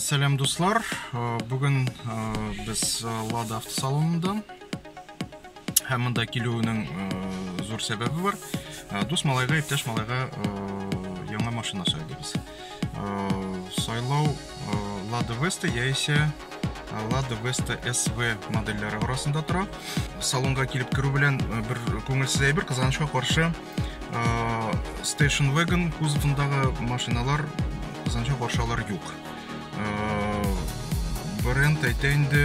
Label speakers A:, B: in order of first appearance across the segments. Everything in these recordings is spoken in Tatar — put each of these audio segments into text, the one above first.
A: Сәлам дуслар, бүген без Лада автосалонында һәм монда килүенең зур сәбәбе бар. Дус малайга, иптәш малайга яңа машина сайладыгыз. Сайлау Lada Vesta яисә Lada Vesta SV модельләре арасында тора. Салонга килеп керү белән бер күңелсез әйбер кызганычка каршы Station Wagon кузовындағы машиналар Казанча баршалар юк. Бренд әйтә инде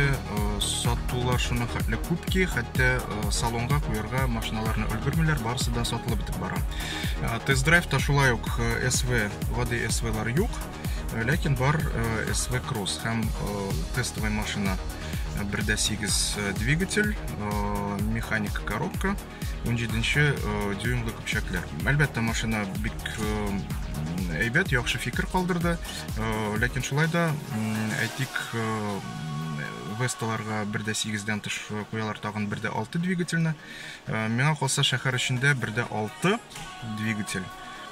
A: сатулар шуны хәтле күп ки, хәтта салонга куярга машиналарны өлгермиләр, барысы да сатылып бетеп бара. Тест-драйв та шулай ук SV, воды SV-лар юк, ләкин бар SV Cross һәм тестовый машина. Бердә 8 двигатель, механик коробка. 17 дюймлы көпчәкләр. Әлбәттә, машина бик әйбәт, яхшы фикер калдырды. Ләкин шулай да, әйтик, Весталарга бер дә сигездән тыш куялар тагын бер дә алты двигательны. Миңа калса шәһәр эчендә бер дә алты двигатель.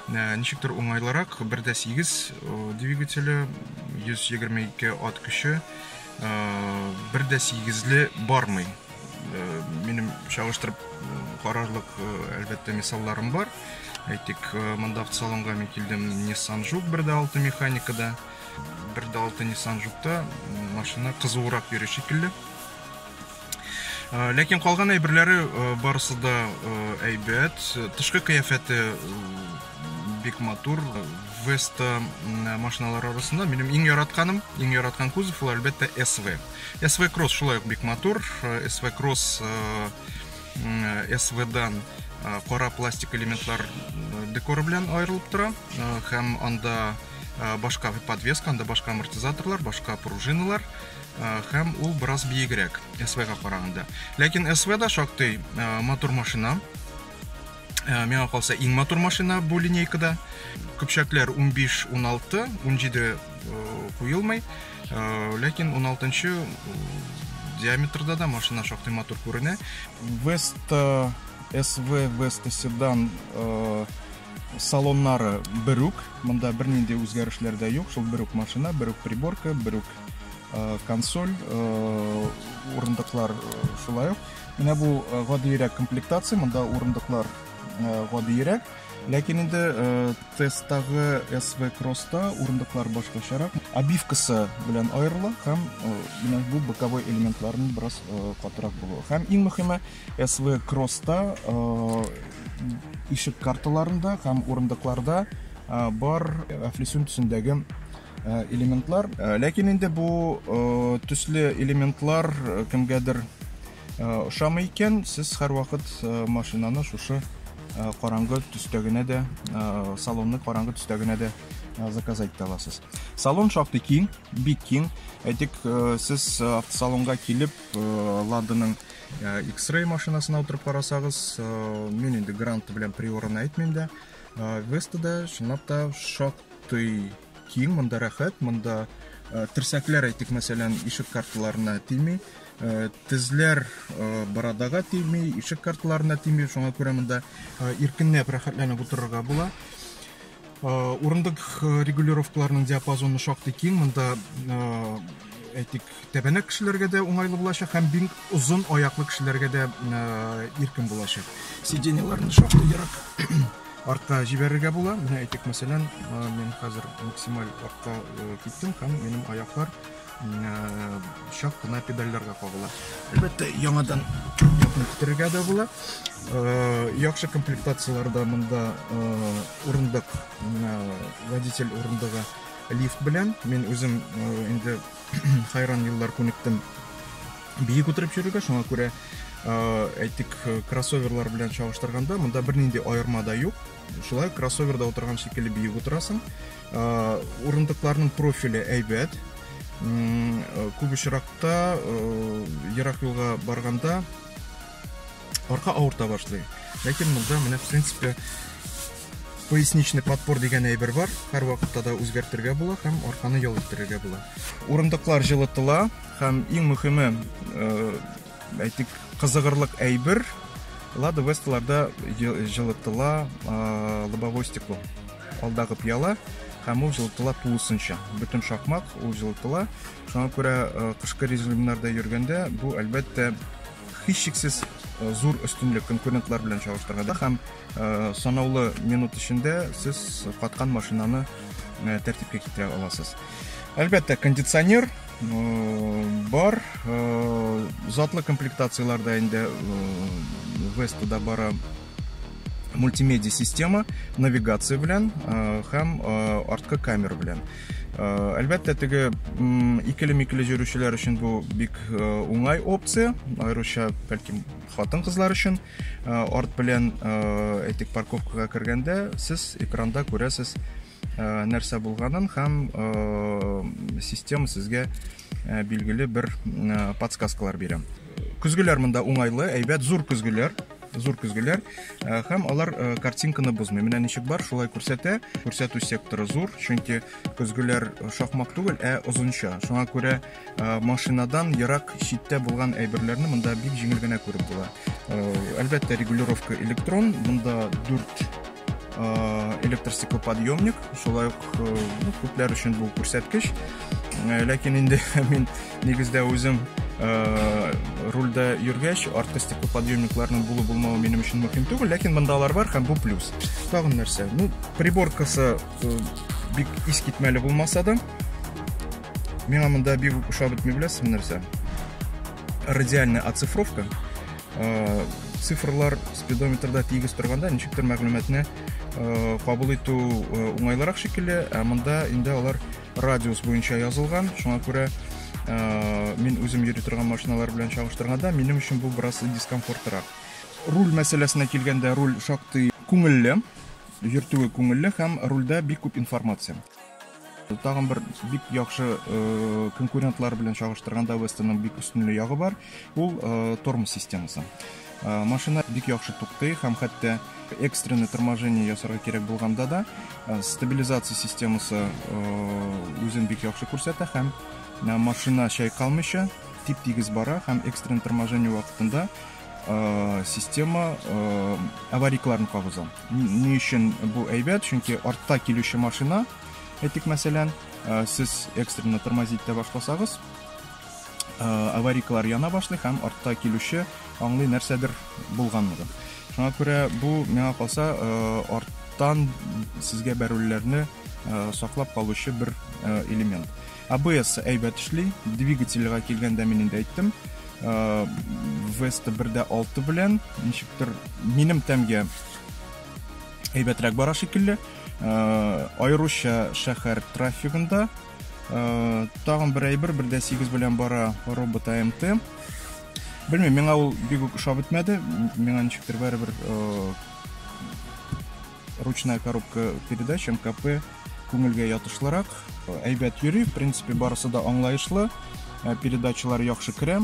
A: Ничектер уңайлырак, бер дә сигез двигателе, 122 ат көче, бер дә сигезле бармый. э, минем чагыштырып карарлык әлбәттә мисалларым бар әйтик монда автосалонга мин килдем nissan жук бер дә алты механикада бер дә алты nissan жукта машина кызуырак йөри шикелле ләкин калган әйберләре барысы да әйбәт тышкы кыяфәте бик матур веста машиналар арасында минем иң яратканым иң яраткан кузов ул әлбәттә sv SV Cross шулай ук бик матур. SV Cross SV-дан кара пластик элементлар декоры белән аерылып тора һәм анда башка подвеска, анда башка амортизаторлар, башка пружиналар һәм ул бераз биегрәк SV-га караганда. Ләкин SV да шактый матур машина. Э, миңа калса иң матур машина бу линейкада көпчәкләр 15 16 17 куелмый Э, ләкин 16 нчы диаметрда да машина шактый матур күренә веста св веста седан э, салоннары берүк монда бернинди үзгәрешләр дә юк шул берүк машина берүк приборка берүк э, консоль урындыклар шулай ук менә бу гадиерәк комплектация монда урындыклар гадиерәк Ләкин инде э, тесттагы SV Cross-та урындыклар башкачарак. Обивкасы белән аерыла һәм э, менә бу боковой элементларның бераз э, катырак булуы. Һәм иң мөхиме SV Cross-та ишек карталарында һәм урындыкларда бар флисюн төсендәге элементлар. Ләкин инде бу төсле элементлар кемгәдер Ошамый икән, сез һәрвакыт машинаны шушы караңгы төстә генә дә, салонны караңгы төстә генә дә заказать итә аласыз. Салон шактый киң, бик киң. Әйтик, сез автосалонга килеп, Ладаның X-Ray машинасына утырып карасагыз, мин инде Грант белән Приораны әйтмим дә, Веста да, чынлап та, шактый Киң, монда рәхәт, монда э, терсәкләр әйтик, мәсәлән, ишек карталарына тими, э, тезләр э, бородага тими, ишек карталарына тими, шуңа күрә монда э, иркенләп, рәхәтләнеп утырырга була. Э, урындык э, регулировкаларының диапазоны шактый киң, монда э, әйтик, Тәбәнәк кешеләргә дә уңайлы булачак һәм бик озын аяклы кешеләргә дә иркен булачак. Сиденьеларны шактый ерак артка җибәрергә була. Менә әйтик, мәсәлән, мин хәзер максималь артка киттем һәм минем аяклар чак кына педальләргә кагыла. Әлбәттә, яңадан якын китерергә дә була. Яхшы комплектацияләрдә монда урындык, водитель урындыгы лифт белән. Мин үзем инде Хайран еллар күнектем. Бии күтәреп йөрергә, шуңа күрә әйтик, кроссоверлар белән чагыштырганда, монда бернинди аерма да юк. Шулай кроссоверда утырган шикелле бии утырасың. Урындыкларның профиле әйбәт. Күп очракта ерак юлга барганда арка авырта башлый. Ләкин монда менә в принципе поясничный подпор дигән әйбер бар. Һәр вакытта да үзгәртергә була һәм арканы ял иттерергә була. Урындыклар җылытыла һәм иң мөхиме, э, әйтик, кызыгырлык әйбер Лада Весталарда җылытыла э, лобовой стекло. Алдагы пьяла һәм ул җылытыла тулысынча. Бөтен шакмак ул җылытыла. Шуңа күрә э, кышкы режимнарда йөргәндә бу әлбәттә Һичшиксез зур өстенлек конкурентлар белән чагыштырганда һәм санаулы минут эчендә сез каткан машинаны тәртипкә китерә аласыз. Әлбәттә, кондиционер бар, затлы комплектацияләрдә инде Вестада бара мультимедиа система, навигация белән һәм арткы камера белән. Әлбәттә, теге икеле-микеле җөрүчеләр өчен бу бик уңай опция, аеруча бәлки хатын кызлар өчен. Арт белән, әйтик, парковкага кергәндә, сез экранда күрәсез нәрсә булганын һәм система сезгә билгеле бер подсказкалар бирә. Көзгеләр монда уңайлы, әйбәт, зур көзгеләр. зур көзгеләр э, һәм алар э, картинканы бозмый менә ничек бар шулай күрсәтә күрсәтү секторы зур чөнки көзгеләр э, шахмак түгел ә озынча шуңа күрә машинадан ерак читтә булган әйберләрне монда бик җиңел генә күреп була әлбәттә регулировка электрон монда дүрт электр стеклоподъемник шулай ук күпләр өчен бу күрсәткеч ләкин инде мин Нигездә үзем э, рульдә йөргәч, арткы стеклоподъемникларның булу булмавы минем өчен мөһим түгел, ләкин монда алар бар һәм бу плюс. Тагын нәрсә? Ну, приборкасы э, бик искитмәле булмаса да, миңа монда бик ошап бетми беләсез нәрсә? Радиальная оцифровка. Э, цифрлар спидометрда тигез торганда ничектер мәгълүматны э, кабул итү э, уңайлырак шикелле, ә монда инде алар радиус буенча язылган, шуңа күрә мин үзем йөри торган машиналар белән чагыштырганда, минем өчен бу бераз дискомфортрак. Руль мәсьәләсенә килгәндә, руль шактый күңелле, йөртүе күңелле һәм рульдә бик күп информация. Тагын бер бик яхшы конкурентлар белән чагыштырганда Вестонның бик өстенле ягы бар, ул тормоз системасы. Машина бик яхшы туктый һәм хәтта экстренный торможение ясарга кирәк булганда да стабилизация системасы үзен бик яхшы күрсәтә һәм машина чайкалмыйча тип-тигез бара һәм экстренный торможение вакытында система аварикларын кабыза. Ни өчен бу әйбәт? Чөнки артта килүче машина, әйтик мәсәлән, сез экстренный тормозить итә башласагыз, аварикалар яна башлый һәм артта килүче аңлый нәрсәдер булганлыгын шуңа күрә бу миңа калса арттан сезгә бәрүләрне саклап калучы бер элемент абс әйбәт эшли двигательга килгәндә мин инде әйттем веста бер дә алты белән ничектер минем тәмгә әйбәтрәк бара шикелле аеруча шәһәр трафигында тагын бер әйбер бер дә сигез белән бара робот амт белмим миңа ул бик үк ошап бетмәде миңа ничектер бәрібір ручная коробка передач мкп күңелгә ятышлырак әйбәт йөри в принципе барысы да аңлаешлы передачалар яхшы керә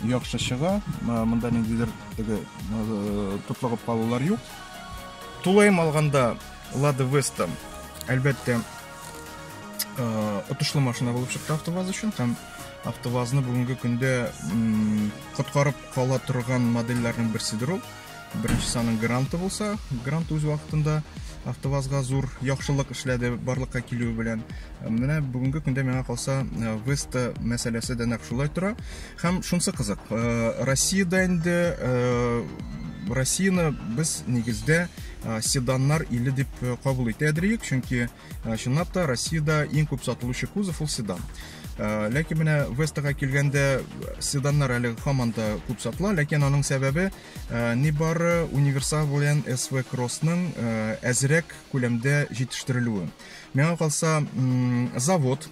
A: яхшы чыга монда ниндидер теге тотлыгып калулар юк тулаем алганда лада веста әлбәттә отышлы машина булып чыкты автоваз өчен һәм автовазны бүгенге көндә коткарып кала торган модельләрнең берседер ул беренчесе аның гранты булса грант үз вакытында автовазга зур яхшылык эшләде барлыкка килүе белән менә бүгенге көндә миңа калса э, веста мәсьәләсе дә нәкъ шулай тора һәм шунысы кызык э, россиядә инде э, россияны без нигездә седаннар иле дип кабул итә дирек, чөнки чынлап та Россиядә иң күп сатылучы кузов ул седан. Ләкин менә Вестага килгәндә седаннар әле һаман да күп сатыла, ләкин аның сәбәбе ни бары универсал белән SV Cross-ның әзрәк күләмдә җитештерелүе. Миңа калса, завод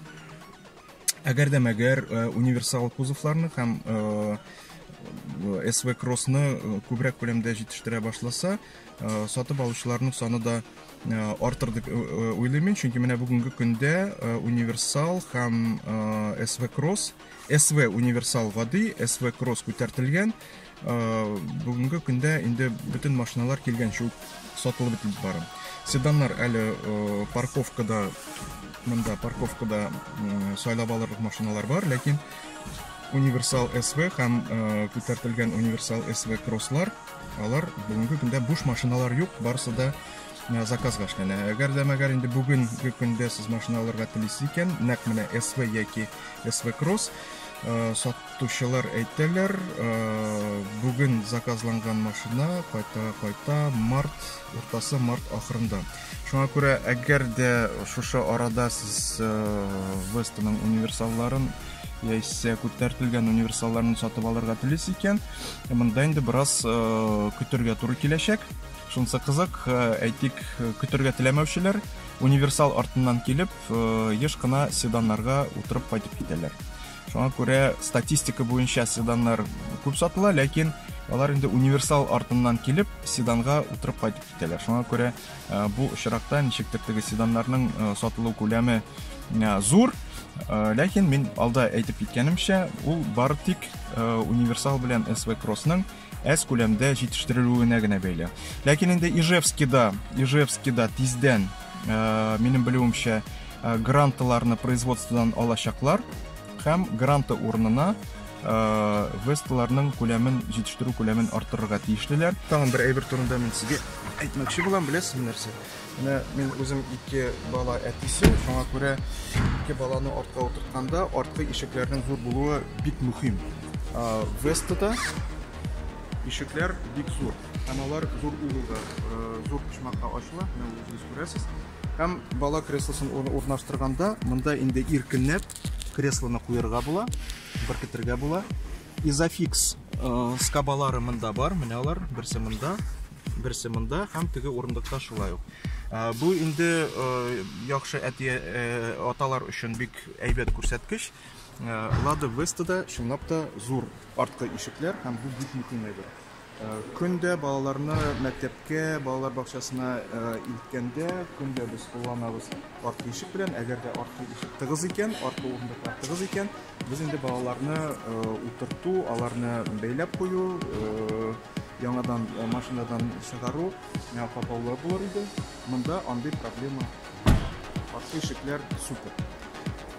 A: әгәр дә мәгәр универсал кузовларны һәм SV Cross-ны күбрәк күләмдә җитештерә башласа, Э, сатып алучыларның саны да э, артыр дип э, уйлыйм мин чөнки менә бүгенге көндә универсал һәм св кросс св универсал гади св кросс күтәртелгән бүгенге көндә инде бөтен машиналар килгәнче үк сатылып бетеп бара седаннар әле парковкада монда парковкада сайлап алырлык машиналар бар ләкин универсал св һәм күтәртелгән универсал св кросслар Алар бүгенге көндә буш машиналар юк, барысы да заказга эшләнә. Әгәр дә мәгәр инде бүгенге көндә сез машина алырга телисез икән, нәкъ менә SV яки SV Cross Э, сатучылар әйтәләр э, бүген заказланган машина кайта кайта март уртасы март ахырында Шуңа күрә, әгәр дә шушы арада сез Вестоның универсалларын яисә күтәртелгән универсалларны сатып алырга телис икән, монда инде бераз көтергә туры киләчәк. Шунысы кызык, әйтик, көтергә теләмәүчеләр универсал артыннан килеп, еш кына седаннарга утырып кайтып китәләр. Шуңа күрә статистика буенча седаннар күп сатыла, ләкин алар инде универсал артыннан килеп, седанга утырып кайтып итәләр. Шуңа күрә бу очракта ничектер теге седаннарның сатылу күләме зур, ләкин мин алда әйтеп киткәнемчә, ул бары тик универсал белән SV Cross-ның әз күләмдә җитештерелүенә генә бәйле. Ләкин инде Ижевскида, Ижевскида тиздән, минем белүемчә, грантларны производстводан алачаклар. Һәм гранты урынына э, весталарның күләмен, җитештерү күләмен арттырырга тиешлеләр. Тагын бер әйбер турында мин сезгә әйтмәкче булам, беләсезме нәрсә? Менә мин үзем ике бала әтисе, шуңа күрә ике баланы артка утыртканда арткы ишекләрнең зур булуы бик мөһим. Э, Вестада ишекләр бик зур һәм алар зур угылда э, зур почмакта ачыла менә үзегез күрәсез һәм бала креслосын урнаштырганда монда инде иркенләп Креслоны куярга була, беркетергә була. Изофикс э, скабалары монда бар, менә алар, берсе монда, берсе монда һәм теге урындыкта шулай ук. Э, бу инде э, яхшы әти аталар өчен бик әйбәт күрсәткеч. Лада Веста да чынлап та зур арткы ишекләр һәм бу бик мөһим әйбер. Көн дә балаларны мәктәпкә, балалар бакчасына илткәндә, көн дә без кулланабыз арткы ишек белән. Әгәр дә арткы ишек тыгыз икән, арткы урындыклар тыгыз икән, без инде балаларны утырту, аларны бәйләп кую, яңадан машинадан чыгару хаталы булыр иде. Монда андый проблема юк. Арткы ишекләр супер.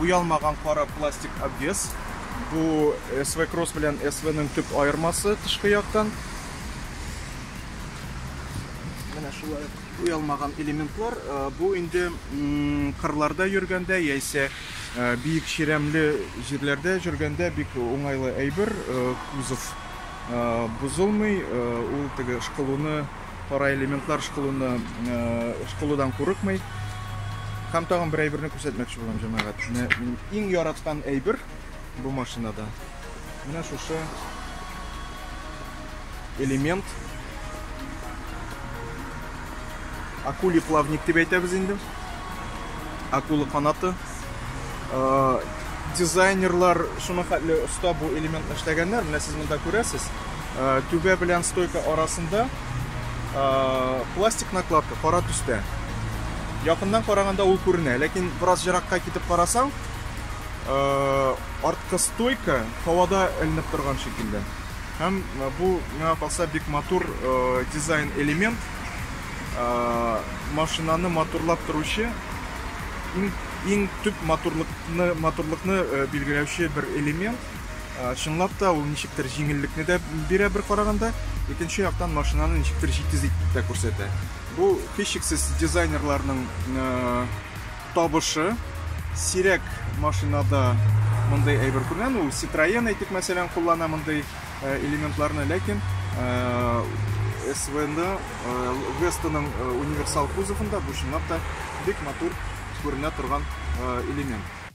A: Уялмаган кара пластик обвес. Бу SV Cross белән SV-ның төп аермасы тышкы яктан. Менә шулай уялмаган элементлар. Э, бу инде кырларда йөргәндә яисә э, биек чирәмле җирләрдә йөргәндә бик уңайлы әйбер. Э, кузов бозылмый, ул теге шкылуны Кара элементлар шкулыны шкулыдан курыкмый. Һәм тагын бер әйберне күрсәтмәкче булам, җәмәгать. Менә минем иң яраткан әйбер бу машинада. Менә шушы элемент. Акули плавник дип әйтәбез инде. Акула канаты. дизайнерлар шуны хәтле оста бу элементны эшләгәннәр менә сез монда күрәсез түбә белән стойка арасында пластик накладка кара төстә якыннан караганда ул күренә ләкин бераз еракка китеп карасаң арткы стойка һавада эленеп торган шикелле һәм бу миңа калса бик матур дизайн элемент машинаны моторлап торучы иң, иң төп моторлыкны, моторлыкны э, билгеләүче бер элемент. Э, чынлап та ул ничектер җиңеллекне дә бирә бер караганда, икенче яктан машинаны ничектер җитез итеп тә күрсәтә. Бу һичшиксез дизайнерларның э, табышы. Сирәк машинада мондый әйбер күргән, ул Citroen әйтик мәсәлән куллана мондый элементларны, ләкин СВ-нда Вестаның универсал кузовында бу чынлап та бик матур күренә торган элемент.